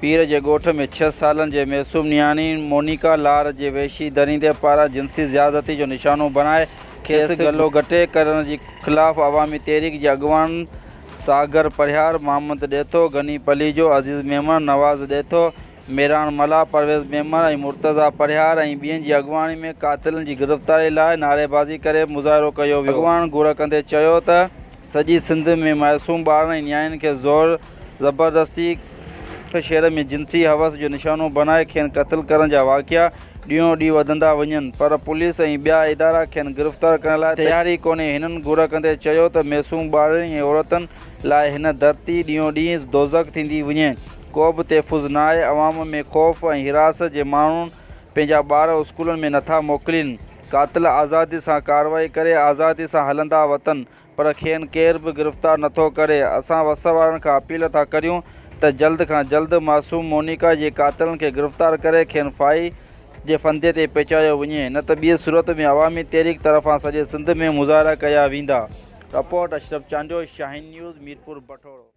پير جي ڳوٺ ۾ ڇهه سالن جي معصوم نياڻي مونيڪا لار جي وحشي دريندي پاران جنسي زيادتي جو نشانو بڻائي کيس گلو گهٽي ڪرڻ جي خلاف عوامي تحريڪ جي اڳواڻ ساگر پرهياڙ، محمد ڏيٿو، غني پليجو، عزيز ميمڻ، نواز ڏيٿو، ميراڻ ملاح، پرويز ميمڻ ۽ مرتضيٰ پرهياڙ ۽ ٻين جي اڳواڻي ۾ قاتلن جي گرفتاري لاء نعريبازي ڪري مظاهرو ڪيو ويو. اڳواڻ گهر ڪندي چيو ته سڄي سنڌ ۾ معصوم ٻارن ۽ نياڻين کي زور، زبردستي هڪ شهر ۾ جنسي حوس جو نشانو بڻائي کين قتل ڪرڻ جا واقعا ڏينهون ڏينهن وڌندا وڃن پر پوليس ۽ ٻيا ادارا کين گرفتار ڪرڻ لاء تيار ئي ڪونهي، هنن گهر ڪندي چيو ته معصوم ٻارڙين ۽ عورتن لاء هن ڌرتي ڏينهون ڏينهن دوزخ ٿيندي وڃي، ڪو به تحفظ ناهي، عوام ۾ خوف ۽ حراست جي ماڻهون پنهنجا ٻار اسڪولن ۾ نٿا موڪلين، قاتل آزادي سان ڪارروائي ڪري آزادي سان هلندا وتن، پر کين ڪير به گرفتار نٿو ڪري، اسان وس وارن کان اپيل ٿا ڪريون ته جلد کان جلد معصوم مونيڪا جي قاتلن کي گرفتار ڪري کين ڦاهي جي ڦندي تي پهچايو وڃي نه ته ٻي صورت ۾ عوامي تحريڪ طرفان سڄي سنڌ ۾ مظاهرا ڪيا ويندا. Report, Ashraf Chandio, Shaheen news, Mirpur بٺوڙو.